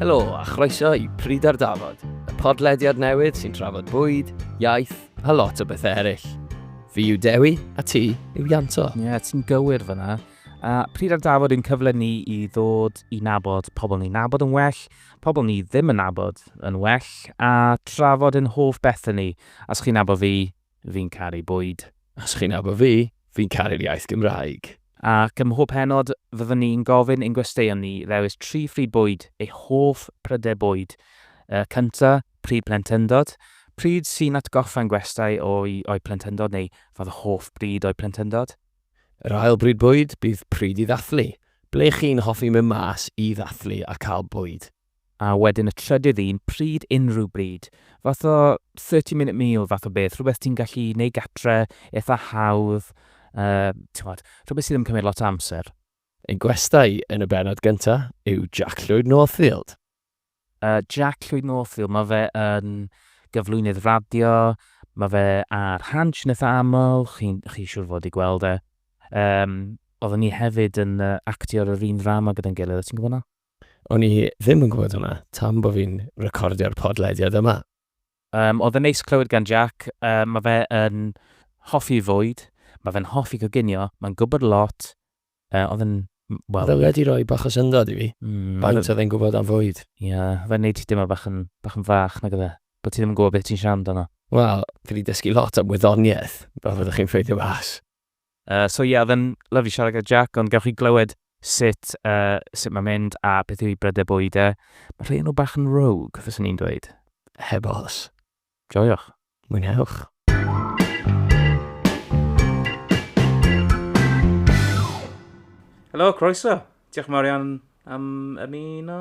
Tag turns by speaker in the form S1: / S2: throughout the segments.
S1: Helo a chroeso i Pryd ar Dafod, y podlediad newydd sy'n trafod bwyd, iaith a lot o bethau eraill. Fi yw Dewi a ti yw Ianto. Ie, yeah, ti'n gywir
S2: fyna. A pryd ar dafod yn cyfle ni i ddod i nabod pobl ni'n nabod yn well, pobl ni ddim yn nabod yn well, a trafod yn hoff bethau ni, Os chi'n nabod fi, fi'n caru bwyd. Os chi'n nabod fi,
S1: fi'n caru'r iaith Gymraeg. Ac ym mhob
S2: pennod, fyddwn ni'n gofyn i'n gwesteion ni ddewis tri phryd bwyd, eu hoff prydau bwyd. Y cynta, pryd plentyndod. Pryd sy'n atgoffa'n gwestai o'u o'u plentyndod neu fod hoff bryd o'u plentyndod. Yr ail
S1: bryd bwyd bydd pryd i ddathlu. Ble chi'n hoffi mynd mas i ddathlu a cael bwyd. A wedyn y
S2: trydydd un, pryd, unrhyw bryd. Fath o thirty minute meal fath o beth, rhywbeth ti'n gallu neud gatre, eitha hawdd, yy, t'mod, rhywbeth sydd ddim yn cymryd lot o amser. Ein gwestai
S1: yn y bennod gynta yw Jack Llwyd Northfield. Yy,
S2: Jack Llwyd Northfield, ma' fe yn gyflwynydd radio, ma' fe ar Hansh yn eitha aml, chi'n, chi siŵr fod i gweld e. Yym, oedden ni hefyd yn yy actio ar yr un ddrama gyda'n gilydd, o' ti'n gwbo 'na? O'n i
S1: ddim yn gwybod hwnna, tan bo fi'n recordio'r podlediad yma. Yym, oedd yn
S2: neis clywed gan Jac, yy, mae fe yn hoffi fwyd, mae fe'n hoffi coginio, mae'n gwybod lot, yy, oedd yn, wel... Oedd e wedi rhoi
S1: bach o syndod i fi, mm, faint oedd e'n gwybod am fwyd. Ie, yeah, fe'n neud ti
S2: deimlo bach yn, bach yn fach, nag oedd e, bod ti ddim yn gwybod beth ti'n siarad amdano. Wel, fi wedi dysgu
S1: lot am wyddoniaeth, fel fyddwch chi'n ffeindio mas. Yy so ie
S2: oedd yn lyfli siarad gyda Jac ond gewch chi glywed sut yy sut mae'n mynd a beth yw ei brydau bwyd e. Mae rhai o nhw bach yn rogue fyswn i'n dweud. Heb os.
S1: Joiwch.
S2: Mwynhewch. Helo, croeso! Diolch yn fawr iawn am ymuno.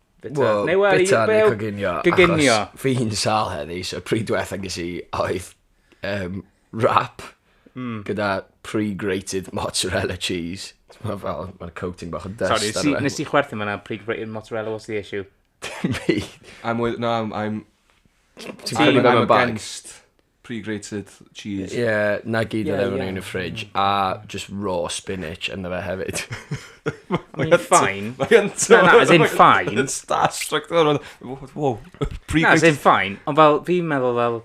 S2: Bita. Wel, Neu wel, bita neu
S1: coginio. Coginio. Achos fi hi'n
S2: sal
S1: heddi, so pryd diwetha ges i oedd um, wrap mm. gyda pre-grated mozzarella cheese. Mae fel, mae'r coating bach yn dust. Sorry, nes i, nes i chwerthu fyna
S2: pre-grated mozzarella, what's the issue? Dim byd.
S1: I'm with, no,
S3: I'm, I'm, I'm, I'm, I'm against pre-grated cheese. Ie, 'na gyd
S1: oedd efo nhw yn y fridge, a just raw spinach ynddo fe hefyd. Mae'n
S2: ffain. Mae'n Na, na, as in
S3: ffain. Mae'n
S2: starstruck, dwi'n
S3: meddwl, wow, wow, Na, as pre-grated. in
S2: ffain, ond fel, fi'n meddwl fel,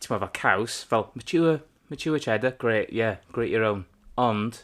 S2: ti'n meddwl fel caws, fel mature, mature cheddar, great, yeah, great your own. Ond,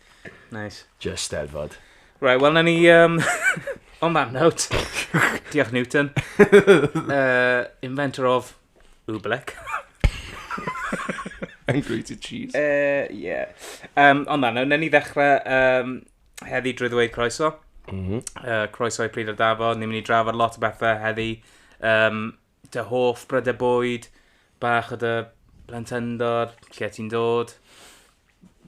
S1: Nice.
S2: Just steddfod.
S1: Right, wel, na ni...
S2: Um, on that note, diolch Newton, uh, inventor of Oobleck.
S3: And grated cheese. Uh, yeah.
S2: Um, on that note, na ni ddechrau um, heddi drwy ddweud croeso. Mm -hmm. uh, croeso i Pryd o'r Dafod, ni'n mynd i drafod lot o bethau heddi. Um, Dy hoff brydau bwyd, bach o dy blentyndod, lle ti'n dod,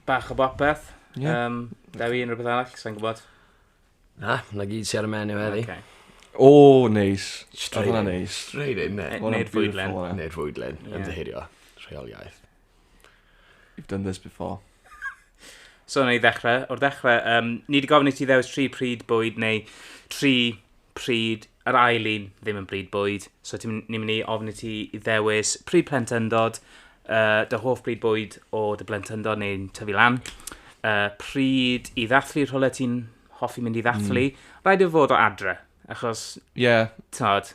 S2: bach o bopeth. Ie. Yym, da fi unrhyw beth arall, sa'n gwybod. Na,
S1: na gyd sy'n ar y menu heddi. Okay. O,
S3: neis. Oedd hwnna'n neis.
S1: Straight in, ne? Neu'r fwydlen. Neu'r
S2: fwydlen, yn
S1: dy herio.
S3: Rheoliaeth.
S1: You've done this
S3: before.
S2: So, na i ddechrau. O'r dechrau, um, ni wedi gofyn i ti ddewis tri pryd bwyd neu tri pryd yr ail un ddim yn bryd bwyd. So, ti'n ni'n mynd i ofyn i ti i ddewis pryd plentyndod, uh, dy hoff bryd bwyd o dy blentyndod neu'n tyfu lan, uh, pryd i ddathlu rhywle ti'n hoffi mynd i ddathlu. Mm. Rhaid i fod o adre, achos... Ie. Yeah. Tod,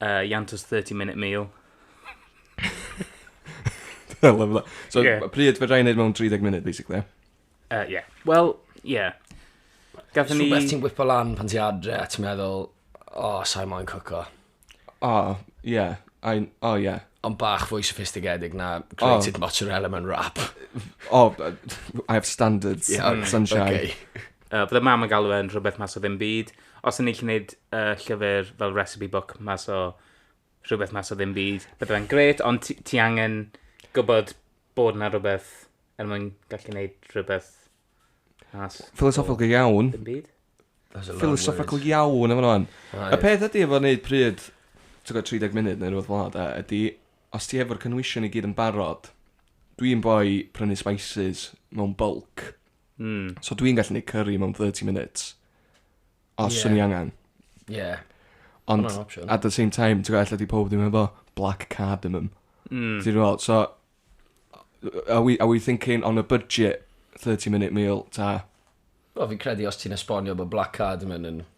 S2: Uh, Ianto's 30 minute
S3: meal. I love that. So, yeah. pryd fe rhaid wneud mewn 30 munud, basically? Uh, yeah.
S2: Wel, yeah. Gathen ni... Rhywbeth ti'n gwipo lan pan ti
S1: adre, a ti'n meddwl, o, oh, sa'i moyn cwco. O, oh,
S3: yeah. I, oh, yeah. Ond bach fwy
S1: sophistigedig na grated oh. mozzarella mewn wrap. oh,
S3: I have standards. Yeah, okay. Sunshine. Okay. Uh,
S1: Byddai mam yn
S2: galw e'n rhywbeth mas o ddim byd. Os o'n i'n gallu neud yy llyfr fel recipe book mas o rhywbeth mas o ddim byd, bydde fe'n grêt, ond ti ti angen gwbod bod 'na rwbeth er mwyn gallu neud rhywbeth mas o... Philosophical iawn.
S3: ...dim byd. That's a lot
S2: of words. Philosophical
S3: iawn yn fan 'wan. O Y ie. peth ydi efo neud pryd t'god 30 munud ne' rwbeth fel 'a de ydi os ti efo'r cynhwysion i gyd yn barod dwi'n boi prynu spices mewn bylc. Mm. So dwi'n gallu neud curry mewn 30 minutes. Os yeah. i angen. Yeah.
S1: Ond,
S3: at the same time, ti'n gallu di pob ddim efo black cardamom. Mm. Ti'n gweld, so, are we, are we thinking on a budget 30 minute meal, ta? Wel, fi'n credu
S1: os ti'n esbonio bod black cardamom yn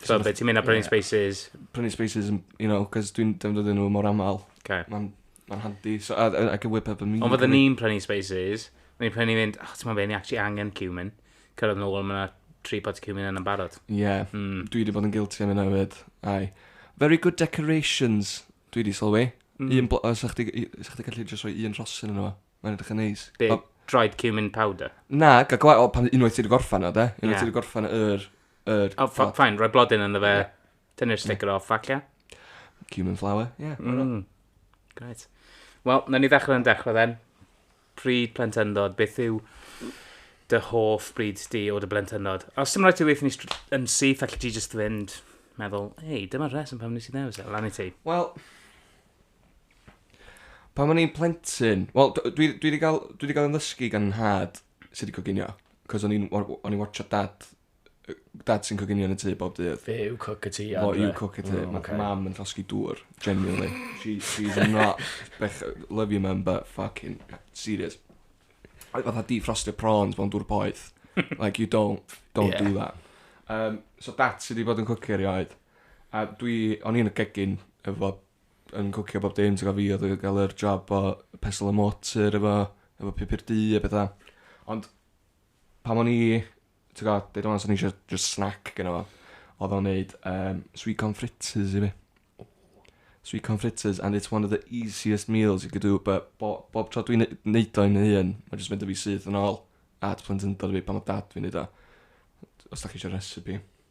S2: So, so be, ti'n mynd a prynu spaces? Prynu spaces, you
S3: know, cos dwi'n defnyddio nhw mor aml. Okay.
S2: Mae'n ma handi,
S3: so I, I, I can whip up a meal. Ond fydden ni'n prynu spaces,
S2: ni'n prynu mynd, oh, ti'n mynd fe, ni actually angen cumin. Cyrraedd yn ôl, mae'na tri pot cumin yn barod. Ie, yeah. mm. dwi
S3: wedi bod yn guilty am yna hefyd. Ai. Very good decorations, dwi wedi sylwi. Mm. Un blo- os ych chi gallu just rhoi un rhosyn yn yma. Mae'n edrych yn neis. Be, Wel- dried cumin
S2: powder? Na, ga gwa... O,
S3: pan unwaith ti wedi gorffan o, de? Unwaith Ie. ti wedi gorffan yr... yr... O, ffa-
S2: ffain, rhoi blodyn yn fe. Tynnu'r sticker off, facia. Cumin
S3: flour, ie. Mm. Greit.
S2: Wel, na ni ddechrau yn dechrau then. Pryd plentyndod, beth yw dy hoff bryd di o dy blentyndod? Os dim rhaid ti weithio ni str- yn syth, allu ti just fynd meddwl, ei, dyma'r rheswm pam nes i ddewis e, lan i ti. Wel,
S3: Pan o'n i'n plentyn... Wel, d- dwi, dwi 'di gael, dwi 'di gael yn ddysgu gan nhad sut i coginio. Cos o'n i'n, o'n o'n i'n watcho dad, yy, dad sy'n coginio yn y tŷ bob dydd. Fe yw cook y tŷ Fo
S1: adre. yw cook y tŷ. O, Mae ocê.
S3: mam yn llosgi dŵr, genuinely. She, she's not... Bech, love you mum, but fucking serious. Oedd fatha defrostio prawns mewn dŵr poeth. Like, you don't, don't Ie. do that. Um, so dat sy 'di bod yn cwcio erioed. A dwi, o'n i'n y gegin efo yn cwcio bob dim t'gwo' fi odd y ga'l yr job o pesl y motor efo efo pupur du a petha ond pan o'n i t'go' deud rŵan swn i isio jys snack geno fo odd o'n neud yym sweet corn fritters i fi. O. Sweet corn fritters and it's one of the easiest meals you could do bu' bo- bob tro dwi'n ne- neud o i fy hun ma' jys mynd â fi syth yn ôl at plentyndod fi pan odd dad fi'n neud o. Os 'dach chi isio recipe.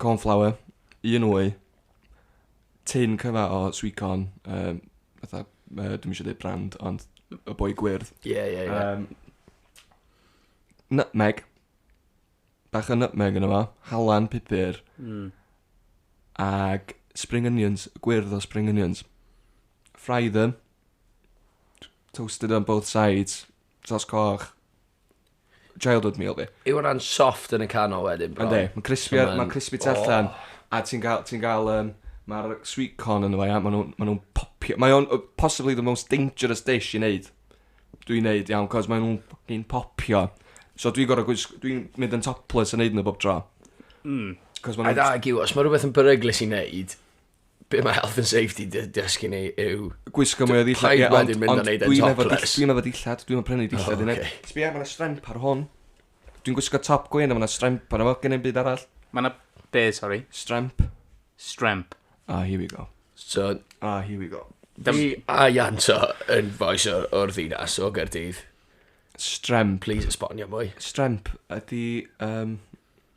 S3: Cornflour, un wy, tin cyfa o sweet corn, um, fatha, uh, dwi'n eisiau dweud brand, ond y boi gwyrdd. Ie, yeah, ie, yeah, ie.
S1: Yeah. Um,
S3: nutmeg, bach o nutmeg yn yma, halan pupur, mm. ag spring onions, gwyrdd o spring onions. Fry them, toasted on both sides, Sos coch. Child oat meal fi. Yw hwnna'n soft yn
S1: y canol wedyn bron? Yndi, mae'n crispy, mae'n
S3: crispy tu allan. A ti'n gael, ti'n gael, um, mae'r sweet corn yn dweud, maen nhw'n ma nhw popio. Mae o'n possibly the most dangerous dish i wneud. Dwi'n wneud, iawn, cos maen nhw'n popio. So dwi'n gorau gwisg... Dwi'n mynd yn topless yn neud nhw bob tro. Mm. Cos
S1: maen nhw'n... A da, giw, os mae rhywbeth yn beryglus i wneud, be mae health and safety di dysgu ni yw... Gwisgo mwy o ddillad,
S3: ie, ond, ond dwi'n
S1: efo dillad, dwi'n efo dillad, dwi'n efo
S3: prynu dillad oh, i neb. Okay. Sbio, mae yna stremp ar hwn. Dwi'n gwisgo top gwyn, mae yna stremp ar efo, gen i'n byd arall. Mae yna, be,
S2: sorry? Stremp.
S3: Stremp.
S2: Ah, here we go.
S3: So, ah,
S1: here we go.
S3: Fi a
S1: Ianto yn foes o'r, or ddinas o Gerdydd. Stremp.
S3: Please esbonio
S1: mwy. Stremp
S3: ydy... Um,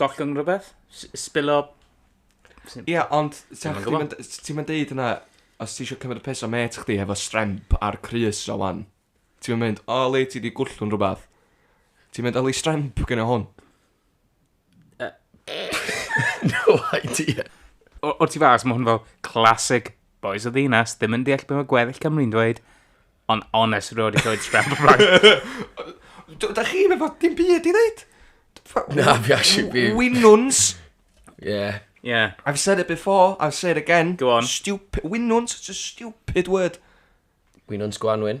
S2: Gollwng rhywbeth? Spillo...
S3: Ia, ond ti'n mynd deud yna, os ti eisiau cymryd y pes o met chdi hefo stremp ar Chris o wan, ti'n mynd, o le ti di gwllwn rhywbeth? Ti'n mynd, oli stremp gyda hwn?
S1: no idea. O'r ti fas,
S2: mae hwn fel classic Boys o ddinas ddim yn deall beth mae gweddill Cymru'n dweud, ond honest roed i llwyd scramble rhag. Da chi
S3: efo dim byd i ddeud? Na, fi
S1: actually fi... Winwns.
S3: Yeah.
S1: Yeah. I've
S2: said it before,
S3: I'll say it again. Go on. Stupid.
S2: Winwns, it's
S3: a stupid word. Winwns
S1: Gwanwyn.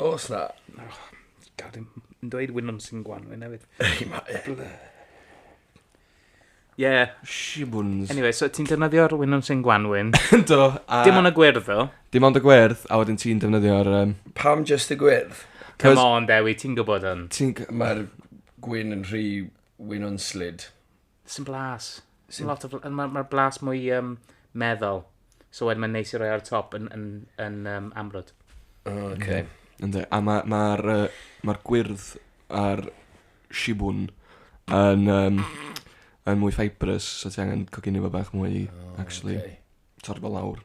S1: Os na. Oh, gad dim
S2: yn dweud wynon sy'n gwanwyn hefyd. Ei, ma e. Ie. Yeah. Shibwns. Anyway,
S3: so ti'n defnyddio'r
S2: wynon sy'n gwanwyn. Do. A... Dim
S3: ond y gwyrdd,
S2: ddo. Dim ond y gwyrdd,
S3: a wedyn ti'n defnyddio'r... Um... Pam just y
S1: gwyrdd? Come on, Dewi,
S2: ti'n gwybod hwn. Ti'n... Mae'r
S1: gwyn yn rhy wynonslid. Sy'n blas.
S2: Sy'n lot o bl... Mae'r ma blas mwy um, meddal. So wedyn mae'n neis i roi ar y top yn, yn, yn um, amrwd. O, oh, oce.
S1: Okay. Ynddo. A
S3: mae'r ma, ma, uh, ma gwyrdd a'r shibwn yn, um, yn mwy fibrous, so ti angen coginio fo bach mwy, oh, actually. Okay. Torfo lawr.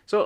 S3: So,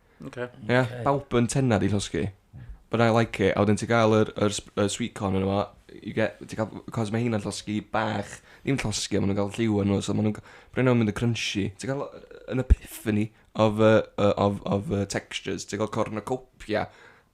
S3: Okay.
S2: Ia, okay. bawb yn
S3: tenna di llosgi. But I like it. A wedyn ti gael yr, yr, yr sweet corn yn yma. You get, ti gael, cos mae hynna'n llosgi bach. Dim llosgi, ond maen nhw'n cael lliw yn nhw. So maen nhw'n, bryn nhw'n mynd y crunchy. Ti gael yn epiphany of, uh, of, of uh, textures. Ti gael corn y copia.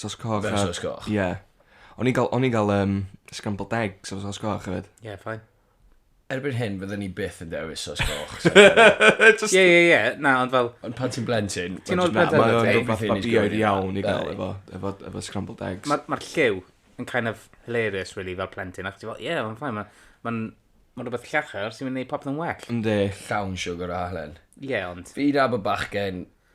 S3: Sos
S1: coch a... Fel
S3: sos coch. Ie.
S1: O'n i'n
S3: gael, o'n i'n gael um, scrambled eggs efo sos coch hefyd. Ie, yeah, ffain.
S2: Erbyn hyn,
S1: fydden ni byth yn dewis sos goch. Ie,
S2: ie, ie. Na, ond fel... Ond pan ti'n blentyn...
S1: Ti'n oed blentyn? Mae'n
S2: rhywbeth
S3: babioedd
S1: iawn
S3: i
S1: gael
S3: efo, efo, efo
S1: scrambled
S3: eggs. Mae'r ma lliw
S2: yn kind of hilarious, really, fel plentyn. Ac ti'n fel, ie, mae'n ffain. Mae'n ma, ma rhywbeth llachar sy'n mynd i popeth yn well. Ynddi. Llawn
S3: siwgr a
S1: halen. Ie, ond... Fi da
S2: bod bachgen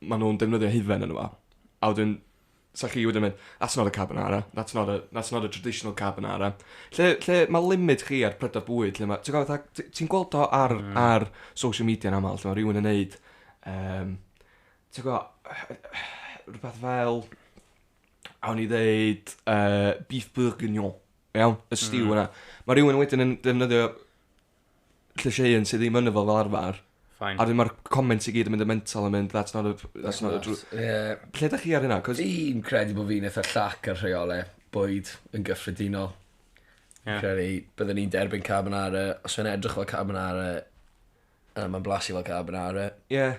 S3: ma' nhw'n defnyddio hufen yno fo, a wedyn, 'sa chi wedyn mynd, that's not a carbonara, that's not a, that's not a traditional carbonara. Lle, lle mae limit chi ar prydau bwyd, lle mae, ti'n gwybod, fatha, ti- ti'n gweld o ar, mm. ar social media yn aml, lle mae rhywun yn neud, um, ti'n gwybod, rhywbeth fel, awn i ddeud, uh, beef bourguignon, iawn, y stiw mm. yna. Mae rhywun wedyn yn defnyddio llysieuyn sydd ddim yn y fel arfer. Fine. A wedyn mae'r
S2: comments i
S3: gyd yn mynd yn mental yn mynd, that's not a, that's not a drw... Yeah. Lle da
S1: chi ar hynna? Cos...
S3: Fi'n credu bod
S1: fi'n eitha llac ar rheolau bwyd yn gyffredinol.
S2: Yeah. Credu, byddwn i'n
S1: derbyn carbonara, os fe'n edrych fel carbonara, uh, mae'n blasu fel carbonara. Yeah.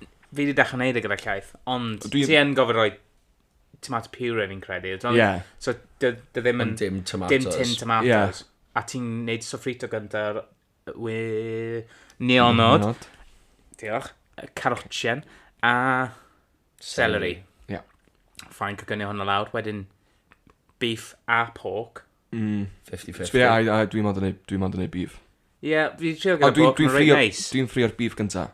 S2: Fi wedi dechrau neud e gyda llaeth, ond Dwi- ti yn gofyn rhoi tomato puree fi'n credu. Dwi'n meddwl- Ie. So,
S3: dy, dy
S2: ddim yn... Ond dim tomatoes. Dim
S1: tin tomatoes.
S2: A ti'n
S3: neud
S2: sofrito gyntaf wy... Nionod. Nionod. Diolch. Y Carotchen. A... Celery. Ie.
S3: Fine, cygynio
S2: hwnna lawr. Wedyn, beef a pork. Mm. 50-50. Dwi,
S1: I, I, dwi mond
S3: yn neud, dwi mond yn neud beef. Ie, yeah, fi'n trio
S2: gyda bob, dwi'n reit neis. Dwi'n ffrio'r beef gynta.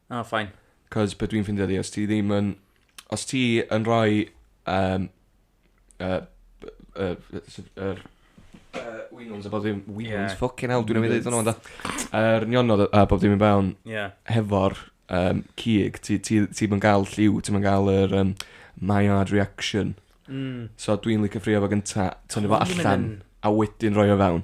S2: Ah, oh,
S3: ffain.
S2: Cos beth dwi'n ffindio
S3: di, os ti ddim yn... Os ti yn rhoi... Um, uh, uh, uh, uh, Winons a bob ddim, Winons, yeah. ffucking hell, dwi'n mynd i ddweud hwnna, da. Yr nionod a bob ddim yn bawn, yeah. hefo'r um, cig, ti'n ti, ti, ti gael lliw, ti'n gael yr um, my hard reaction. Mm. So dwi'n licio ffrio fo gynta, tynnu fo allan, a wedyn roi o fewn.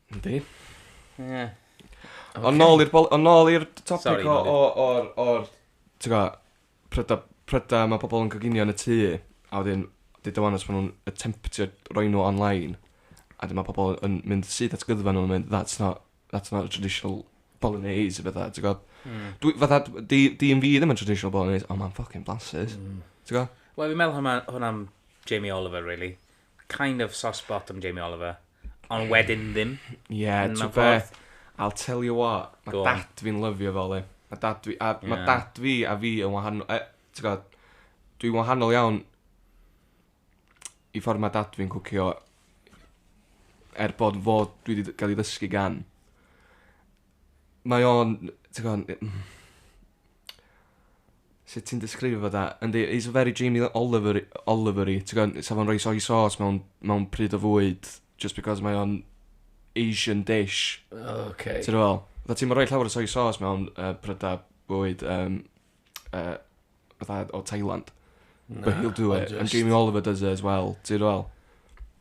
S2: Yndi.
S3: Ie. Ond nôl i'r bol- ond nôl i'r t- topic Sori, o nôl i- o o'r o'r t'go' pryda pryda ma' pobol yn coginio yn y tŷ a wedyn deud o wan os ma' nw'n attemptio roi nw online a 'dyn ma' pobol yn mynd syth at gyddfan a ma' nw'n mynd that's not that's not a traditional bolognese a petha ti gw'od? Hmm. Dwi fatha d- 'di 'di un fi ddim yn traditional bolognese on' ma'n ffycin blasus. Hmm. T'go'? Wel fi'n meddwl hwnna
S2: hwnna am Jamie Oliver rili. kind of soft spot am Jamie Oliver, ond wedyn ddim. Ie, yeah, ti'n beth,
S3: I'll tell you what, mae dad fi'n lyfio fel e. Mae dad fi, a, yeah. mae dad fi a fi yn wahanol, e, ti'n gwybod, dwi'n wahanol iawn i ffordd mae dad fi'n cwcio er bod fod dwi wedi cael ei ddysgu gan. Mae o'n, ti'n gwybod, Sut ti'n disgrifio fo 'da? Yndi he's a very Jamie Oliver- Oliver-y t'god 'sa fo'n roi soy sauce mewn mewn pryd o fwyd jyst because mae o'n Asian dish. O oce. Ti me'wl?
S1: Fatha ti'm
S3: yn rhoi llawer o soy sauce mewn yy pryda bwyd yym yy fatha o Thailand. Na ond jyst... But he'll do it and Jamie Oliver does it as well ti me'wl?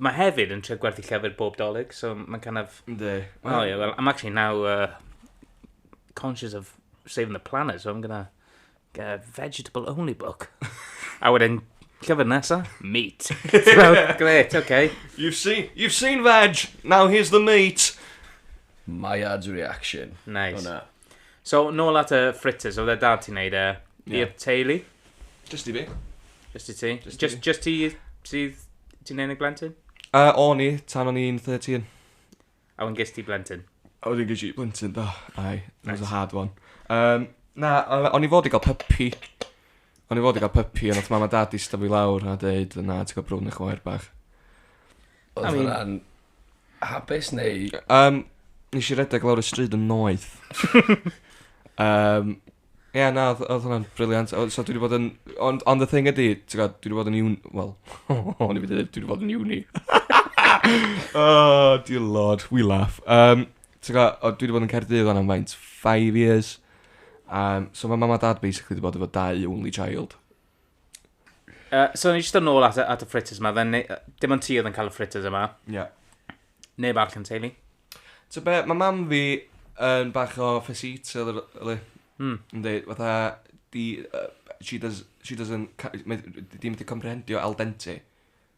S2: Mae hefyd yn trio gwerthu llyfr bob dolyg, so mae'n kind of... Ynddi. O ie, well,
S3: I'm actually
S2: now uh, conscious of saving the planet, so I'm gonna get a vegetable only book. a wedyn, llyfr nesa, meat. so, great, okay. You've seen, you've
S3: seen veg, now here's the meat. My
S1: ad's reaction. Nice. Hwna.
S2: So, nôl at y fritters, oedd e dad ti'n neud e Ie. i'r teulu? Just i fi.
S3: Just i ti? Just i
S2: Just, fi. just ti sydd... Ti'n unig blentyn? Uh, o'n i,
S3: tan o'n i'n 13. A wedyn ges
S2: ti blentyn? A wedyn ges i
S3: blentyn, do. Ai, that was Reit. a hard one. Um, na, o- o'n i fod i gael puppy. O'n i fod i gael pypi, ond oedd mam a dad eistedd fi lawr a dweud, na, ti'n cael brwn eich wair bach.
S1: Oedd I mean... hwnna'n hapus neu... Um, nes i
S3: redeg lawr y stryd yn noeth. um, Ie, yeah, na, oedd hwnna'n briliant. So dwi wedi bod yn... Ond on the thing ydy, ti'n gwybod, dwi wedi bod yn un... Wel, o'n i wedi dweud, dwi wedi bod yn uni. oh, dear lord, we laugh. Um, Ti'n gwbod, o, dwi 'di bod yn Caerdydd 'wan am faint? Five years. Um, so mae mam a dad basically 'di bod efo dau only child. Uh,
S2: so ni jyst yn ôl at, y- at y fritters yma, then, ne- dim ond ti oedd yn cael y fritters yma. Ie. Yeah.
S3: Neb
S2: arall yn teulu. So be, mae
S3: mam fi yn bach o ffesit, so oedd e... Hmm. Yn dweud, fatha, di, uh, she does, she doesn't, ca- mae- di ddim wedi comprehendio al dente.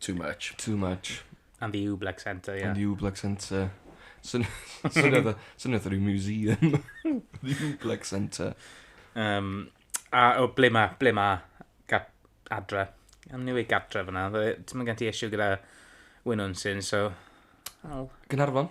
S1: Too much. Too much.
S3: And the Oobleck
S2: Centre, ie. And the Oobleck
S3: Centre. Swn- swnio fatha swnio fatha ryw museum. The Oobleck Centre. Um,
S2: a o, ble ma, ble ma gad, adre? Am ni wedi gadre fyna. Fe- Ti'n mynd gen ti issue gyda Wynwnsyn, so... I'll- Gynarfon.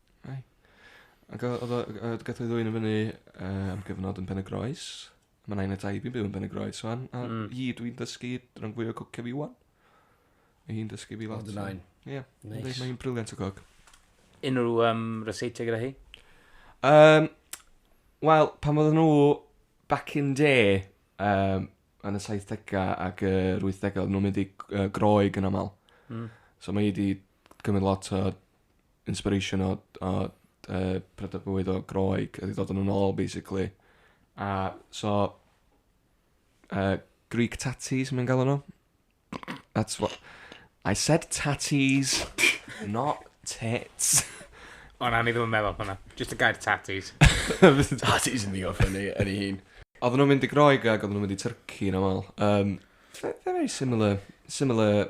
S3: Ai. Ag o- odd o ag yy gath o 'i ddwyn yn fyny yy am gyfnod yn Pen-y-groes. Ma' nain a taid fi'n byw yn Pen-y-groes ŵan a... Hmm. ...hi dw i'n dysgu ran fwya o cwcio fi ŵan. Ma' hi'n dysgu fi lot. O dy nain. Ie.
S1: Neis. Yndi mae
S3: 'i'n briliant
S1: o gog.
S3: Unrhyw yym
S2: ryseitiau gyda hi? Yym
S3: wel pan oedden nhw back in day yym yn y saithdega ac yr wythdega oedden nhw'n mynd i g- yy Groeg yn amal. Hmm. So ma' 'i 'di cymryd lot o inspiration o o yy prydau bywyd o Groeg a 'di dod â nhw nôl basically. A so yy Greek tatties mae'n galw nhw. That's what... I said tatties, not tits. O na, o'n
S2: i ddim yn meddwl hwnna. Jyst y gair tatties. Tatties
S1: yn ddigon ffyni yn ei hun. Oedden nhw'n mynd i Groeg
S3: ac oedden nhw'n mynd i Turkey yn aml. Yym very similar similar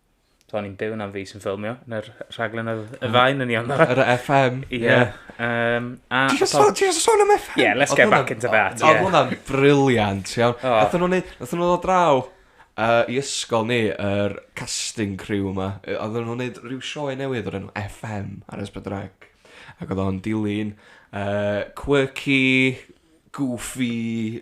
S2: So o'n i'n byw na'n fi sy'n ffilmio yn yr rhaglen oedd y mm. fain yn iawn. Yr FM.
S3: Ie.
S2: Um, a...
S3: Ti'n just sôn am FM? Yeah, let's get back into that.
S2: Oedd hwnna'n briliant,
S3: iawn. Nath nhw'n neud, nath nhw'n dod draw uh, i ysgol ni, yr casting crew yma. Oedd nhw'n neud rhyw sioe newydd o'r enw FM ar Esbydreg. Ac oedd o'n dilyn uh, quirky, goofy,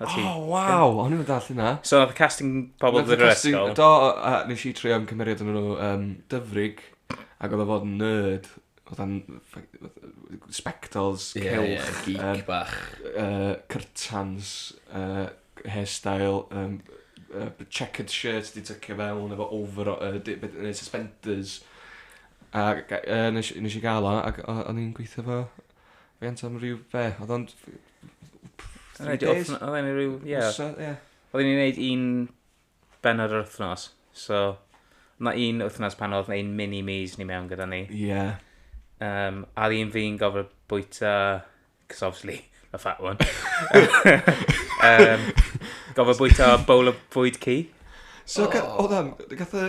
S2: A ti? Oh,
S3: waw! O'n i'n dall hynna. So, nath y casting
S2: pobl ddod i'r ysgol? Do, a nes i
S3: trio ymcymeriad yn nhw um, dyfrig, ac oedd o fod yn nerd, oedd o'n spectols, yeah, celch, yeah, geek um, bach. Uh,
S1: cyrtans,
S3: uh, hairstyle, um, uh, checkered shirt di tycio fewn, efo over, uh, di, beth, uh, suspenders. A uh, nes, nes i gael o, ac o'n i'n gweithio fo Fi yn teimlo rhyw, be, oedd o'n... Three days? Oedd e'n rhyw, ie.
S2: Wsad, ie. Oedd e'n ei wneud un benod yr wythnos, so... Mae un wythnos pan oedd ein mini me's ni mewn gyda ni. Ie. Yeah.
S3: Um,
S2: a un fi'n gofod bwyta, cos obviously, the fat one. um, gofod bwyta bowl of bwyd ci. So, oh. oedd am, gath y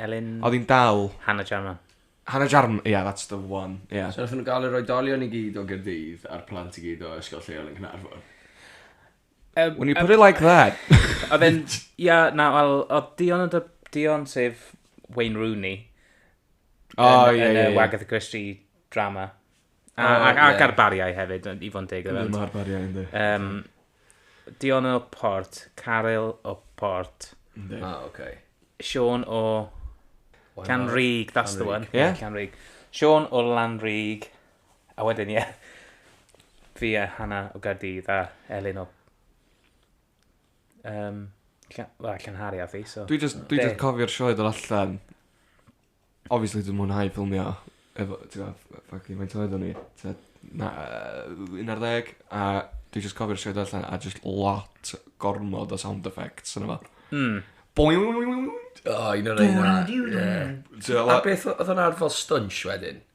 S3: Elin...
S2: Oedd hi'n
S3: dal... Hannah Jarman.
S2: Hannah Jarman,
S3: yeah, that's the one, yeah. So nathon nhw gael yr oedolion
S1: i gyd o Gaerdydd a'r plant i gyd o ysgol lleol yn Caernarfon? Um,
S3: When you put um, it like that. Oedd e'n...
S2: Ia, na, wel, oedd Dion yn dy... Dion sef Wayne Rooney. O, oh, ie, ie, ie. Wagatha Christie drama. A, oh, a, a yeah. ga'r bariau hefyd, i fod yn deg. Ynddi, mae'r bariau, ynddi. Um, Dion o Port, Caryl o Port. Ynddi. Ah, oce. Okay.
S1: Sean o
S2: Canrig, that's the one. Yeah. Canrig.
S3: Sean
S2: o Lanrig. A wedyn, ie. Yeah. Fi a Hannah o Gardydd a Elin o... Um, Wel, Llanhari a fi, so... Dwi just, dwi just cofio'r
S3: sioed yn allan Obviously dwi'n mwynhau ffilmio efo t'gwod yy ffycin faint oed o'n i tua na- yy un ar ddeg a dwi jyst cofio'r sioe do allan a jyst lot gormod o sound effects yno fo. Hmm. Boing! O
S1: un o'r reina ie. T'mo' fel... A beth o- odd o'n arfar stwnsh wedyn?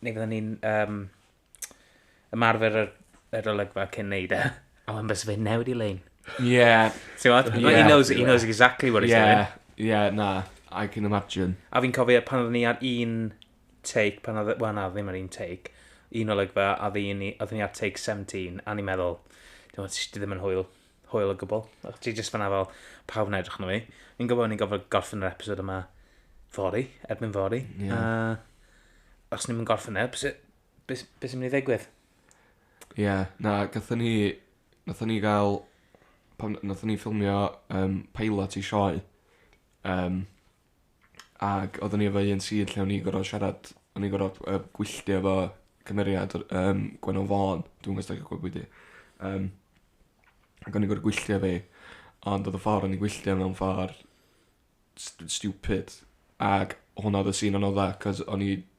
S2: neu fydden ni'n um, ymarfer yr, yr olygfa cyn neud e. A wedyn bys fe newid i lein. Yeah.
S3: Ti'n what? Yeah, he,
S2: knows, he knows exactly what he's yeah. doing. Yeah,
S3: na. I can imagine. A fi'n cofio pan oeddwn ni ar
S2: un take, pan oedd, well na, ddim ar un take, un olygfa, a oeddwn ni ar take 17, a ni'n meddwl, dim ond, ddim yn hwyl. hwyl o gwbl. Ac ti jyst fanna fel, pawb yn edrych arno fi. Fi'n gwybod o'n i'n gofod gorffen yr episod yma fori, erbyn fori. Yeah. A os ni'n mynd gorffen e, beth be, be sy'n mynd i ddigwydd? Ie,
S3: yeah, na, gatho ni, gatho ni gael, pan gatho ni ffilmio um, pilot i sioe, um, Ag oddwn i efo un sir lle o'n i'n gor'o' siarad o'n i'n gor'o' yy gwylltio efo cymeriad o'r yym Gwenno Fôn dwi'm os 'dach chi'n gwbo pwy 'di. Yym. Ag o'n i gor'o' gwylltio ddi ond odd y ffor o'n i'n gwylltio mewn ffor st- stupid ag hwnna odd y sîn anodda 'c'os o'n i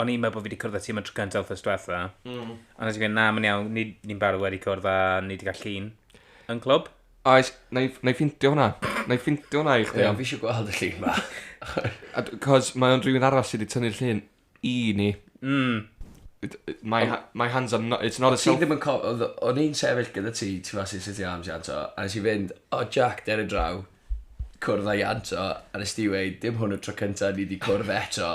S2: o'n i'n meddwl bod fi wedi cwrdd â ti am y tro cyntaf wrth ystwetha. Mm. A nes i fynd, na, mae'n iawn, ni'n ni barod wedi cwrdd a ni wedi cael llun yn clwb. Oes,
S3: na i ffintio hwnna. Na i ffintio hwnna i chdi. Ie, fi eisiau gweld y llun ma.
S1: Cos
S3: mae o'n rhywun arall sydd wedi tynnu'r llun i ni. Mm. My, my hands are not, it's not a self... Ti ddim yn cofio, o'n i'n
S1: sefyll gyda ti, ti fas i'n sitio am Janto, a nes i fynd, o oh, Jack, der y draw, cwrdd â Janto, a nes ti weid, dim hwn y tro cyntaf ni wedi cwrdd eto.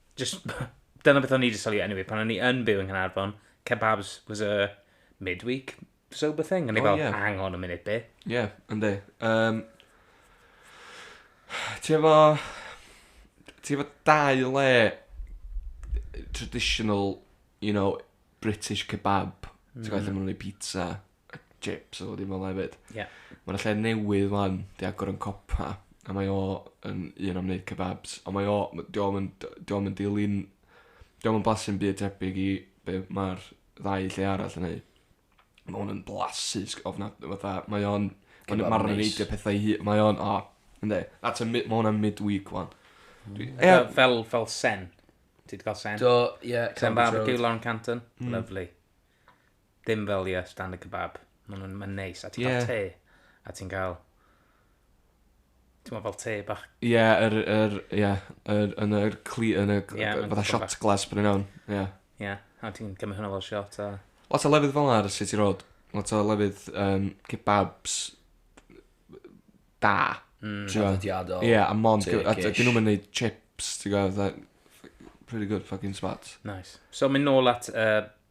S2: Jyst, dyna beth o'n i 'di sylwi eniwe, pan o'n i yn byw yng Nghaernarfon, kebabs was a midweek sober thing. O'n i O, fel, ie. hang on a minute, be? Ie, yndi.
S3: Yym, ti efo... Ti efo dau le traditional, you know, British kebab. Ti'n gwybod, lle maen nhw'n gwneud pizza. a chips oedd o ddim yma hefyd. Ie. Yeah. Mae'n lle newydd fan, di agor yn copa, a mae o yn un am wneud kebabs. Ond mae o, di o'm yn, di o'm yn dilyn, di o'm yn blasu'n byd tebyg i be mae'r ddau lle arall yn ei. Mae hwn yn blasu, ofna, fatha, mae o'n, mae'n ma reidio pethau i hi, mae o'n, o, oh, ynddi, that's a, mae hwn yn mid-week wan. Mm. Ia. Fel,
S2: fel sen. Ti wedi cael sen? Do, ie. Yeah, Sen
S1: barbecue, Lauren
S2: Canton. Mm. Lovely. Dim fel, ie, standard kebab. Maen nhw'n ma neis. A ti'n yeah. cael te. A ti'n cael... Ti'n meddwl fel te bach. Ie, yeah, yr...
S3: Er, yeah, er, yn yr cli... Yn y... Yeah, fatha shot glass bryn iawn. Ie. Yeah. Ie. Yeah.
S2: A ti'n cymryd hwnna fel shot a... Lot o lefydd fel
S3: ar City Road. Lot o lefydd um, kebabs da. Mm.
S1: Traddodiadol. Ie, yeah, a mon...
S3: A dyn nhw'n mynd chips, ti'n gwybod, pretty good fucking spots. Nice. So, mynd
S2: nôl at uh,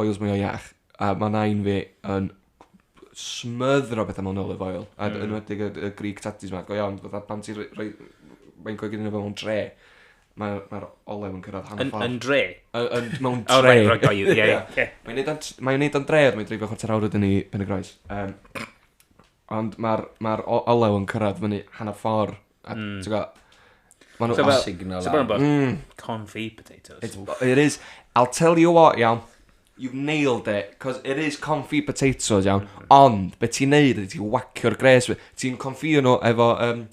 S3: oils mwya iach a ma nain fi yn smothero petha mewn olive oil a yn enwedig y y Greek tatties ma go iawn fatha pan ti roi mae'n coginio fe mewn tre ma'r ma'r olew yn cyrradd hanner ffordd.
S2: Yn dre? Yn
S3: mewn tre. O reit reit got you ie ie. Mae'n neud
S2: o'n mae'n neud
S3: o'n dre ond mae'n dreifio chwarter awr wedyn i Pen-y-groes yym ond ma'r ma'r olew yn cyrradd fyny hanner ffordd A, mm. ti'n gwybod, Mae nhw... So, well,
S2: signal so bron bod mm. confit potatoes. It's, it
S3: is, I'll tell you what, iawn, you've nailed it, cos it is confit potatoes, iawn, mm. ond, be ti'n neud ydy ti'n wacio'r gres, ti'n confio nhw efo, um,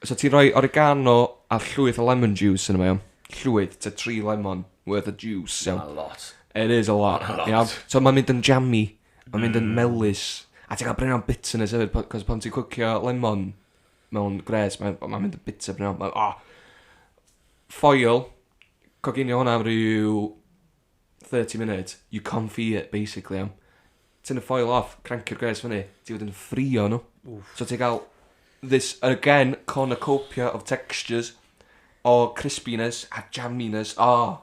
S3: so ti'n rhoi oregano a llwyth o lemon juice yn yma, iawn, llwyth, ta tri lemon worth of juice, iawn. A lot. It is
S1: a lot, a
S3: lot. iawn. So mae'n mynd yn jammy, mae'n mynd yn mm. melus, a ti'n cael brin o'n bitterness hefyd, cos pan ti'n cwcio lemon, mewn gwres, mae'n ma mynd yn bitter bryn iawn. Mae'n, oh, ffoil, coginio hwnna am rhyw 30 munud, you confy it, basically, iawn. Ti'n y ffoil off, crancio'r gwres fyny, ti fod yn ffrio nhw. Oof. So ti'n cael this, again, cornucopia of textures, o crispiness a jamminess, oh,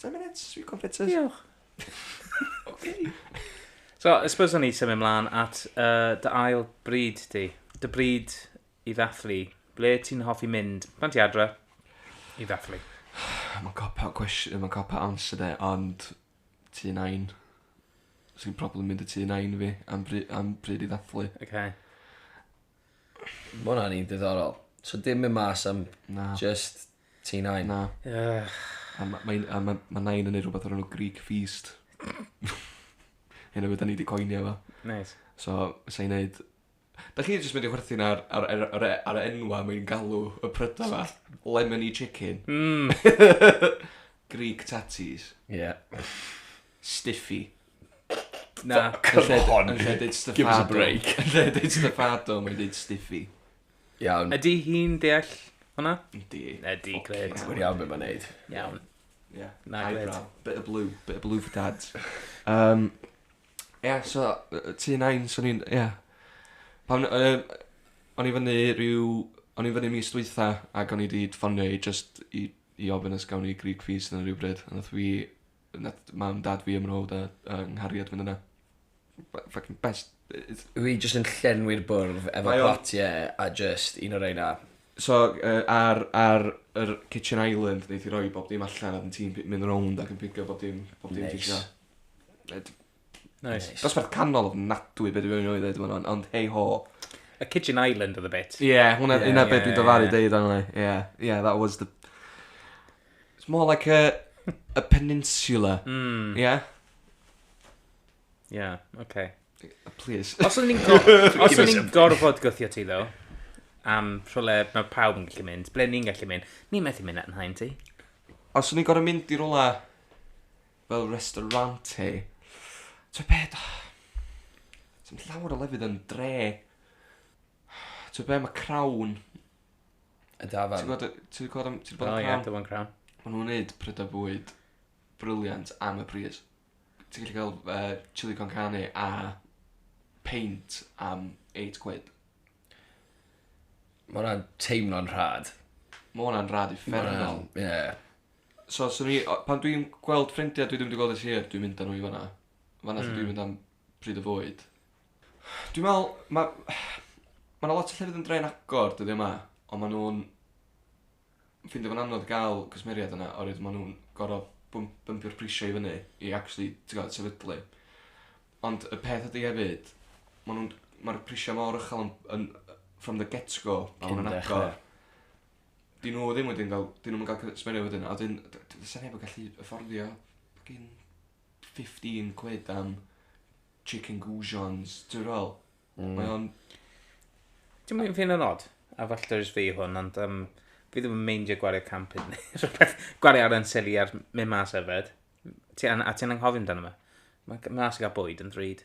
S3: 10 minutes, sweet confiters. Diolch.
S2: Oce. So, I suppose o'n i symud mlaen at uh, dy ail bryd di. Dy bryd i ddathlu. Ble ti'n hoffi mynd? Pan ti adre i ddathlu. Mae'n copa
S3: cwestiwn, mae'n copa answer de, ond tu nain. Os i'n problem mynd y tu nain fi am, bry, am bryd i ddathlu. Okay.
S1: Ma' wnna'n un diddorol. So dim myn' mas am... Na. ...jyst ti Nain? Na. Ych.
S3: A ma' mae'n a ma' ma' Nain yn neud rwbeth o'r enw Greek Feast. Hyn hefyd 'dan ni 'di coinio fo. Neis. So
S2: sai'n
S3: neud... Dach chi jyst mynd i chwerthin ar ar er- ar e- ar y enwa' mae'n galw y pryda 'ma. Lemony chicken. Hmm. Greek tatties. Ie.
S1: Stiffy.
S2: Na, yn lle, yn
S1: lle deud stuffado. Give us a break. Yn lle deud stuffado,
S3: mae'n deud stiffy. Iawn. Ydy
S1: hi'n
S2: deall hwnna? Ydy. Ydy,
S3: gred. Mae'n iawn beth
S2: mae'n neud.
S1: Iawn.
S2: Yeah. Na, gred. Bit of blue,
S3: bit of blue for dads. Um, yeah, so, tu nain, so ni'n, yeah. Pan, um, o'n i fyny rhyw, o'n i fyny mis dwytha, ac o'n i wedi ffonio i just i, i ofyn os gawn i Greek fees yn rhywbryd, a nath fi nath mam dad fi a mrawd a a nghariad fynd yna. Be- ffycin best yy
S1: yy s- Fi jyst yn llenwi'r bwrdd efo Mae o'n- platie a jyst un o reina. So yy
S3: ar ar yr kitchen island neith 'i roi bob dim allan a 'dyn ti'n pi- mynd rownd ac yn pigo bob dim bob dim ti isio.
S1: Neis. Yy d-
S2: Nice. Dosbarth canol ofnadwy
S3: be' dwi fod i newydd ddeud yn fan 'na, ond hei ho. A Kitchen
S2: Island oedd y bit. Ie, yeah, hwnna, yeah, hwnna yeah, beth dwi'n
S3: dyfaru yeah. deud arno. Yeah, yeah, that was the... It's more like a, a peninsula. Mm. Yeah?
S2: Yeah, okay. Please.
S3: Os o'n ni'n go
S2: os o'n ni'n gorfod gwthio ti ddo, am rhywle mae pawb yn gallu mynd, ble ni'n gallu mynd, ni'n methu mynd at yn hain ti. Os o'n ni'n gorfod
S3: mynd i rhywle fel restaurante. T'o' be' da- sdim llawer o lefydd yn dre. T'o' be' ma' Crown...
S1: Y dafarn. Ti'n gwbod y ti 'di clwad am ti 'di
S3: bod yn Crown? O ie Dyfan Crown.
S2: Ma' nhw'n neud prydau
S3: bwyd briliant am y pris. Ti'n gallu cael yy chilli con carne a peint am eight quid.
S1: Ma' wnna'n teimlo'n rhad. Ma' wnna'n rad
S3: uffernol. Ie.
S1: So swn
S3: i... o- pan dwi'n gweld ffrindia dwi ddim 'di gweld ers hir dwi'n mynd â nhw i fana. Fana lle dwi'n mynd am pryd o fwyd. Dwi'n me'wl ma' ma' 'na lot o llefydd yn Dre'n Agor dyddie 'ma on' ma' nw'n ffindio fo'n anodd ga'l cwsmeriaid yna oerwydd ma' nw'n gor'o' bwmp- bwmpio'r prisie i fyny i actually t'god sefydlu. Ond y peth ydi hefyd ma' nw'n ma'r prisie mor uchel yn yn yy from the get go pan ma' nw'n agor. 'dyn nhw ddim wedyn ga'l 'dyn nw'm yn ga'l cy- sbwriel wedyn a 'dyn d- d- do's 'a neb yn gallu yfforddio ffycin fifteen quid am chicken goujons t'o' be' dwi fe'wl? Hmm. Mae o'n... Dim
S2: yn fi'n yn od, a falle jyst fi yw hwn ond yym fi ddim yn meindio gwario can punt ne' rhwbeth. Gwario ar Ansilli ar myn' mas yfed. M- ti an- a ti'n anghofio amdano fe. Ma' g- mas i ga'l bwyd yn ddrud.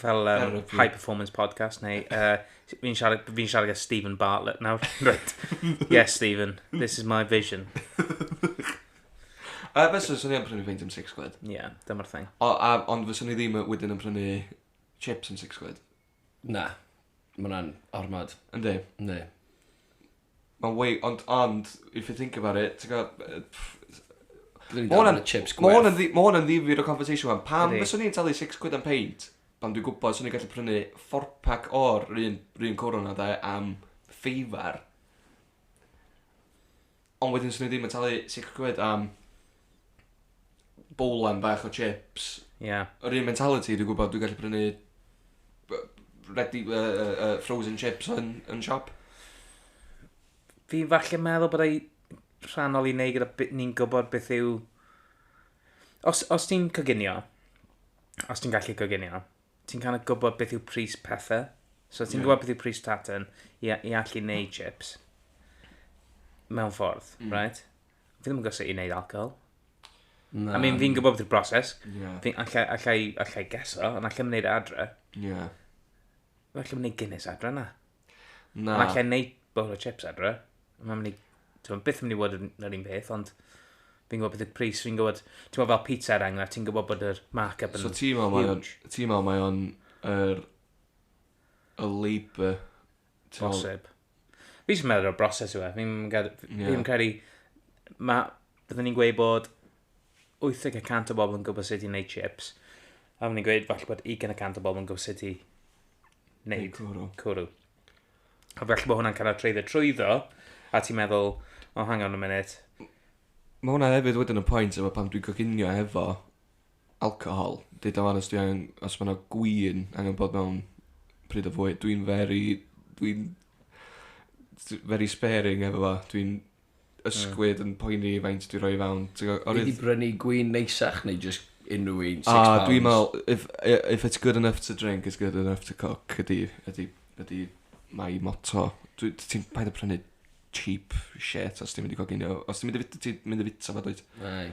S2: fel um, high performance podcast neu uh, fi'n siarad, fi siarad gyda Stephen Bartlett nawr. right. Yes, Stephen, this is my vision.
S3: A fes o'n swnio yn prynu feint am 6 quid. Ie, yeah, dyma'r thing.
S2: O, a, ond fes o'n i ddim
S3: wedyn yn prynu chips am 6 quid. Na, mae
S1: hwnna'n ormod. Yndi. Yndi.
S3: Ma'n wei- ond ond if you think about it ti'n gw'o' b- yy pff s- Dwi
S1: mynd i Ma' 'wn orfod yn- neud chips ma' 'wn yn gwerth. ddi- ma' 'wn yn ddifyr o
S3: conversation 'wan. Pam Ydi. fyswn i'n talu six quid am peint pan dwi'n gwbod swn i'n gallu prynu four pack o'r 'r un 'r un cwrw 'na 'de am feivar. Ond wedyn swn i ddim yn talu six quid am bowlen bach o chips. Ie. Yeah. Yr un
S2: mentality, dwi'n
S3: gwybod, dwi'n gallu prynu ready, uh, uh, frozen chips yn, yn siop.
S2: Fi'n falle meddwl bod ei rhannol i wneud gyda ni'n gwybod beth yw... Os, os ti'n coginio, os ti'n gallu coginio, ti'n kind of gwybod beth yw pris pethau. So ti'n yeah. gwybod beth yw pris tatan i, i allu wneud chips. Mewn ffordd, mm. right? Fi ddim yn gwybod sut i wneud alcohol. Na. I mean, fi'n gwybod beth yw'r broses. Ie. Fi, allai, allai, allai geso, ond allai mynd neud e adre. Ie. Fi allai mynd neud Guinness adre na. Na. Ond allai neud bowl o chips adre. Mae'n mynd i... Ti'n byth yn mynd i fod yn yr un peth, ond... Fi'n gwybod beth yw'r pris, fi'n gwybod... Ti'n gwybod fel pizza er enghraifft, ti'n gwybod bod yr mark-up yn... So ti'n meddwl mae o'n... Ti'n meddwl
S3: mae o'n... Yr... Y labour... Bosib.
S2: Fi jyst yn meddwl y broses yw e. Fi'n gad- fi Ie. ddim yn credu... Ma'... Bydden ni'n gweud bod 80 y cant o bobl yn gwybod sut i wneud chips. A bydden ni'n gweud falle bod 20 y cant o bobl yn gwybod sut i Neud wneud cwrw. cwrw. A falle bod hwnna'n cael ei treiddio trwyddo, a ti'n meddwl, oh, hang on a minute. Mae hwnna
S3: hefyd wedyn yn pwynt efo pan dwi'n coginio hefo Alcohol. Deud o ŵan os dwi angen os ma' 'na gŵyn angen bod mewn pryd o fwyd. Dwi'n very dwi'n s- very sparing efo fo dwi'n ysgwyd yn poeni faint dwi roi i fewn t'go' o' ni... Nei di brynu
S1: gwin neisach neu jyst unryw un six pounds? A dwi'n me'wl
S3: if i- if it's good enough to drink it's good enough to cook ydi ydi ydi my motto. Dwi t- ti'n paid â prynu cheap shit os ti'n mynd i goginio os ti'n mynd i fi- t- ti'n mynd i fita fo dwyt? Nai.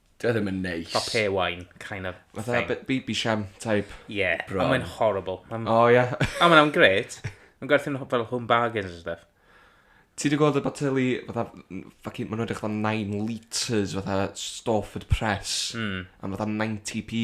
S1: Dwi e ddim yn neis. Fel pay wine,
S2: kind of thing. Fatha baby sham type.
S3: Ie, a mae'n
S2: horrible.
S1: O,
S2: ie.
S3: A mae'n am gret.
S2: Mae'n gwerthu'n fel home bargains and stuff. Ti wedi gweld
S3: y boteli, fatha, fucking, maen nhw'n edrych fatha 9 litres, fatha Storford Press, mm. am fatha 90p.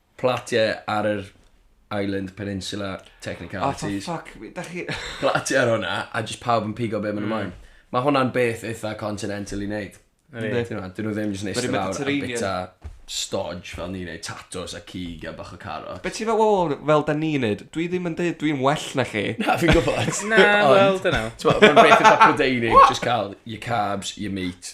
S1: Platiau ar yr Island Peninsula Oh, for Technicalities. fuck, fi- da chi...
S3: Platiau ar hwnna,
S1: a just pawb yn pigo be maen nhw'n moyn. Mae hwnna'n beth eitha continental i wneud. Yndi. Ti'n gwbod, Dyn nhw ddim jyst yn Very eistedd lawr a Mediterranean. bita stodge fel ni'n neud, tatws a cig a bach o carot. Be ti'n fel, wel, wel, fel
S3: da ni'n neud, dwi ddim yn deud dwi'n well na chi. Na, fi'n gwybod. Na,
S1: Ond, wel, dyna.
S2: T'mo, mae'n beth eitha
S1: Prydeinig, just cael your carbs, your meat,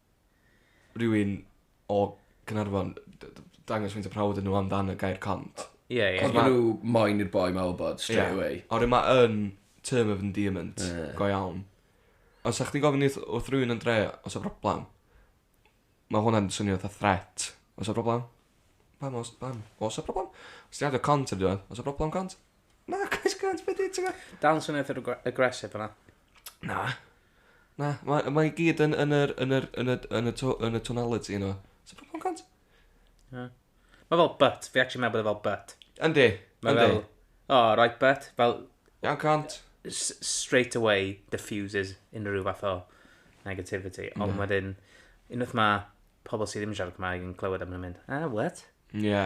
S3: rywun o Gaernarfon d- d- dangos faint o prawf ydyn nhw am dan y gair cont. Ie ie. Ond ma' nhw
S2: moyn
S1: i'r boi ma wybod straight away. Ie. Oherwydd ma yn
S3: term of endearment go iawn. Os sa chdi'n gofyn wrth wrth rywun yn dre os o broblam ma hwnna'n swnio fatha threat. Os o broblam? Pam os pam? Os o broblam? Os ti'n adio cont ar dy o broblam cont? Na, Chris Grant, be di, ti'n gwybod? Dal yn swnio eitha
S2: aggressive yna. Na.
S3: Na, mae ma i gyd yn, yn, yr, yn, yr, yn, y, yn, y, to, yn y tonality yno. So, pa pan cant?
S2: Ie. Mae fel but, fi actually meddwl bod e fel but. Yndi, Mae yndi. fel, oh, right but, fel Iawn cant.
S3: s- straight
S2: away diffuses unrhyw fath o negativity. Ond Ie. wedyn, unwaith mae pobl sydd ddim yn siarad Cymraeg yn clywed am hynny'n mynd, ah, what? Ie.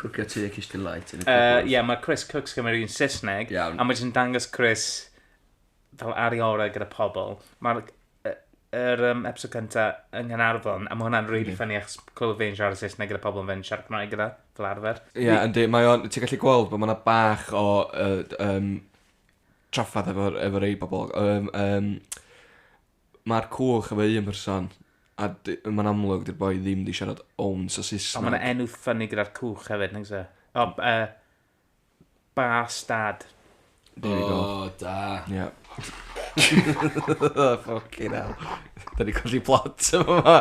S2: Cwcio
S1: tŷ a cistyn light yn y Yy, cwpwrdd. ie, mae Chris
S2: Cooks Cymru yn Saesneg, Iawn. a mae jyst yn dangos
S1: Chris
S2: fel ar ei orau gyda pobl. Mae'r y- yr yym episode cynta yng Nghaernarfon, a mae hwnna'n rili ffyni achos clywed fe'n siarad Saesneg gyda pobl fe'n siarad Cymraeg gyda, fel arfer. Ie, yndi, mae o'n...
S3: Ti'n gallu gweld bod mae yna bach o yy yym trafferth efo'r efo rhai pobl. Yym yym Mae'r cwch efo un person, a d- mae'n amlwg 'di'r boi ddim 'di siarad ounce o Saesneg. Ond mae 'na enw ffyni gyda'r
S2: cwch hefyd, nag oes e? O, yy, Bas Dad. There we go.
S3: O, da. Ie. Ffycin hel. Da ni colli plot yn fama.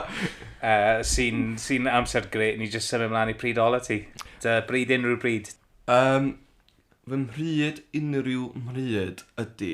S3: Yy, sy'n,
S2: sy'n amser grêt, ni jyst symud mlaen i pryd ola ti. Dy bryd unrhyw bryd. Yym,
S3: fy mhryd unrhyw mhryd ydy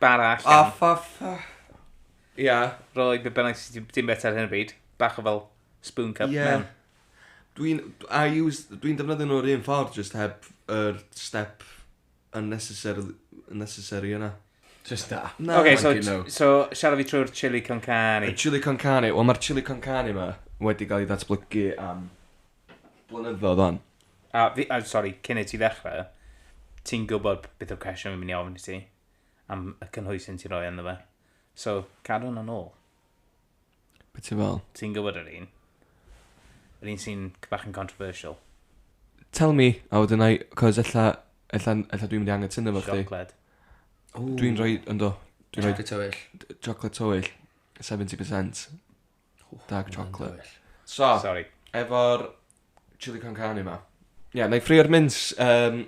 S2: Bara allan. O, for fuck. Ia.
S3: Rhoi be bynnag
S2: sydd ti'n ti'n bwyta ar hyn o bryd. Bach o fel spoon cup Ie. mewn. Dwi'n...
S3: I use... Dwi'n defnyddio nhw'r un ffordd, jyst heb yr step unnecessary... unnecessary yna. Jyst da. Na.
S1: Ocê, so, Thank you, no. so
S2: siarad fi trwy'r chili con Y carne. chili con carne. Wel,
S3: mae'r chili con carne yma wedi cael ei ddatblygu am blynyddoedd o'n. A, fi,
S2: a, sorry, cyn i ti ddechrau, ti'n gwybod beth o'r cwestiwn fi'n mynd i ofyn i ti am y cynhwysyn ti'n rhoi ynddo fe. So, cadw hwnna'n ôl.
S3: Beth ti'n fel? Ti'n gwybod yr un?
S2: Yr un sy'n bach yn controversial. Tell
S3: me, a wedyn I... Cos ella, ella, ella dwi'n mynd i angen tynnu fo chdi. Siocled. Dwi'n rhoi, ynddo, dwi'n rhoi...
S1: Chocolate tywyll.
S3: Chocolate tywyll, 70%. Dark chocolate. So, Sorry. efo'r chili con carne ma. Ie, yeah, na i ffrio'r mints. Um,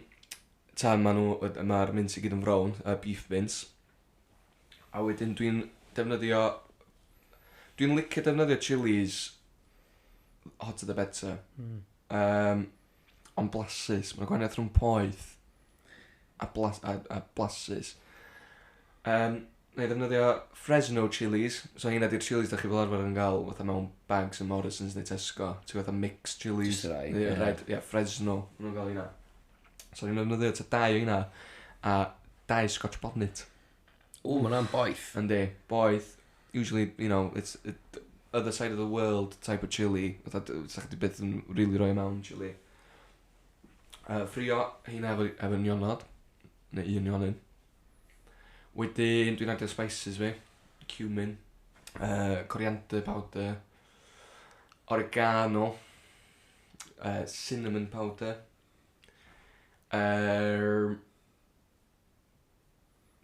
S3: ta, mae'r ma, ma mints i gyd yn frown, y beef mints. A wedyn dwi'n defnyddio... Dwi'n licio defnyddio chilies hot to the better. Mm. Um, ond blasus, mae'n gwahaniaeth rhwng poeth a, blas, a, a blasus. Um, na i ddefnyddio Fresno chilies, so hynna di'r chilies da chi fel arfer yn gael fatha mewn bags yn Morrison's neu Tesco, ti'n fatha mixed chilies. Just rai, yeah. Red, yeah,
S1: Fresno,
S3: maen nhw'n gael hynna. So ni'n ddefnyddio ta dau o hynna, a dau scotch bonnet. O, mae hwnna'n
S1: boeth. Yndi, boeth.
S3: Usually, you know, it's, it, other side of the world type of chili. Fatha, sa'ch di beth yn really roi mewn chili. Yy ffrio heina efo efo nionod neu un nionyn. Wedyn dwi'n adio spices fi. Cumin. Yy coriander powder. Oregano. Yy cinnamon powder. Yy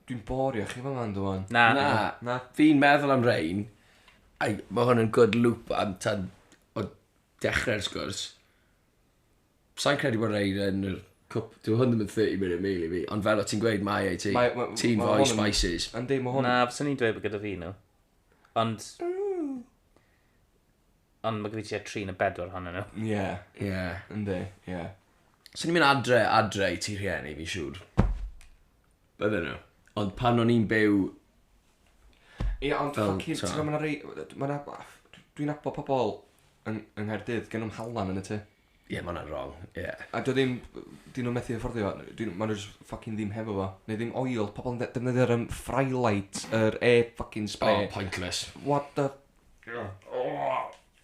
S3: dwi'n borio chi fan 'ma yndw wan? Na. Na. Na?
S2: Fi'n meddwl am
S1: rein. Ai ma' hwn yn good loop am tan o dechre'r sgwrs. Sa'n credu bod rhaid yn yr cwp... Dyw hwn ddim yn 30 minute meal i fi, ond fel o ti'n gweud, mae ei ti. Mae- mae- Ti'n mae hwn yn- spices. Yndi, mae hwn... Na, fyswn
S3: i'n dweud bod gyda
S2: fi
S3: nhw.
S2: Ond... Ond mae gyda fi tua tri neu bedwar ohonyn nhw. Ie, Ie.
S3: yndi, ie. Swn i'n mynd
S1: adre, adre i ti rhieni, fi'n siŵr. Oedden nhw. Ond pan o'n i'n byw...
S3: Ie, ond fel, ti'n gwybod, mae yna rei... Mae yna... Dwi'n abo pobl yng, yng Nghaerdydd, gen nhw'm halan yn y tŷ. Ie, yeah, mae hwnna'n wrong,
S1: ie. Yeah. A dwi ddim...
S3: Dyn nhw'n methu fforddio fo. Dyn nhw... Mae nhw just ffocin ddim hefo fo. Neu ddim oil. Pobl yn defnyddio'r um, Frylight, yr e-ffocin spray. Oh, pointless. What the... Oh.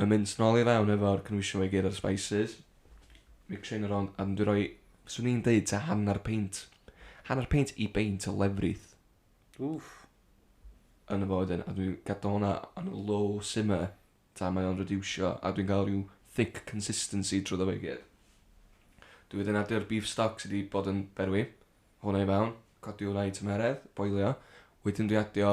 S3: Yn mynd nôl i fewn efo'r cynhwysion 'ma i gyd a'r spices. Mixio 'un yn rownd a 'dyn dwi roi, 'swn i'n deud tua hanner peint, hanner peint i beint o lefrith. Wff. Yn y fo wedyn, a dwi'n gadal hwnna on a low simmer ta mae o'n rediwsio a dwi'n cael rhyw thick consistency drwyddo fe i gyd. Dwi wedyn addio'r beef stock sydd wedi bod yn berwi, hwnna i fewn, codi hwnna i tymeredd, boilio. Wedyn dwi adio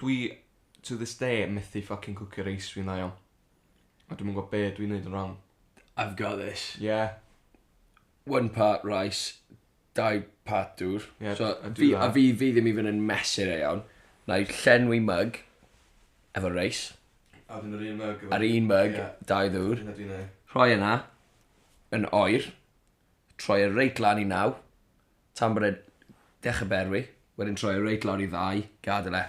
S3: Dwi to this day yn methu ffycin cwcio reis fi'n dda iawn. A dwi'm yn gwbo be' dwi'n neud yn rong. I've got this.
S1: Ie.
S3: One
S1: part rice dau part dŵr. Ie so a dwi a
S3: fi
S1: fi ddim
S3: even yn
S1: mesur e iawn. Nâi llenwi mug efo reis. A wedyn yr un
S3: mug efo... A'r un mug... Ie.
S1: ...dau ddŵr.
S3: Dyna dwi'n
S1: neu'. Rhoi e 'na yn oer. troi e reit lan i naw, tan bod e dechre berwi, wedyn troi e reit lawr i ddau, gadel e.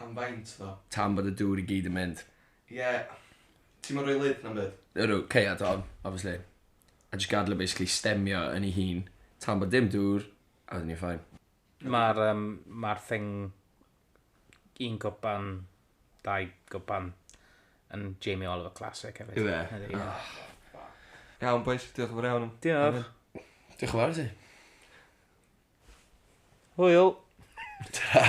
S1: Am
S3: faint ddo? Tan bod y dŵr i gyd
S1: yn mynd. Ie,
S3: ti'm yn rhoi lid na'm byd? Ydw, caead hon,
S1: obviously. A jyst gadel e basically stemio yn ei hun, tan bod dim dŵr, a wedyn ni'n fine. Ma'r yym
S2: ma'r thing un gwpan, dau gwpan yn Jamie Oliver Classic hefyd. Yw e? Ydy, ie. Oh,
S3: Iawn boys, diolch yn fawr iawn. Diolch.
S2: Diolch yn fawr i
S1: ti.
S2: Hwyl.
S1: Ta.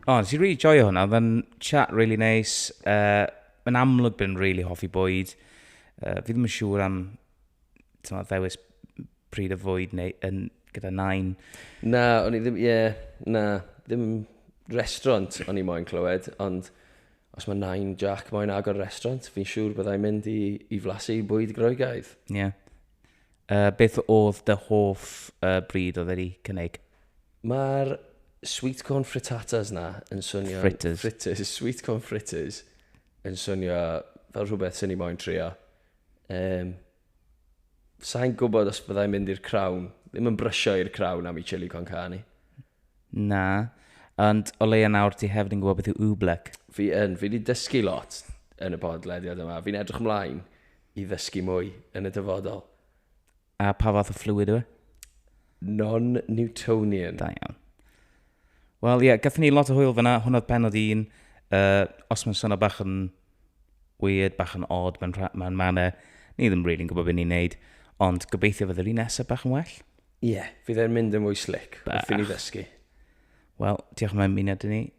S2: O, oh, nes i really joio hwnna. Oedd yn chat really nice. Uh, yn amlwg bydd yn really hoffi bwyd. Uh, fi ddim yn siŵr am ddewis pryd o fwyd neu yn, gyda nain. Na, o'n i
S1: ddim, ie, yeah, na, ddim restaurant o'n i moyn clywed, ond os mae nain Jack moyn agor restaurant, fi'n siŵr byddai mynd i, i flasu i bwyd groegaidd. Ie. Yeah.
S2: Uh, beth oedd dy hoff uh, bryd oedd wedi cynnig? Mae'r
S1: sweet corn frittatas na yn swnio... Fritters. Fritters, sweet
S2: corn fritters
S1: yn swnio fel rhywbeth sy'n ni moyn trio. Yym, sa'n gwybod os byddai'n mynd i'r crawn. Ddim yn brysio i'r crawn am i Chili con carne. Na,
S2: ond o leia nawr ti hefyd yn gwybod beth yw Oobleck. Fi yn, fi wedi
S1: dysgu lot yn y bodlediad yma. Fi'n edrych ymlaen i ddysgu mwy yn y dyfodol. A
S2: pa fath o fluid yw e? Non-Newtonian.
S1: Da iawn.
S2: Wel, ie, yeah, gatho ni lot o hwyl fyna. Hwna'r penod un. Uh, os mae'n swnio bach yn weird, bach yn odd, mae'n ma manau. Ni ddim rili'n really gwybod beth ni'n neud. Ond gobeithio fydde'r un nesaf bach yn well. Ie, yeah, fydd e'n
S1: mynd yn fwy slick. Bach. Wrth i ni ddysgu. Wel,
S2: diolch
S1: yn
S2: mynd i ni.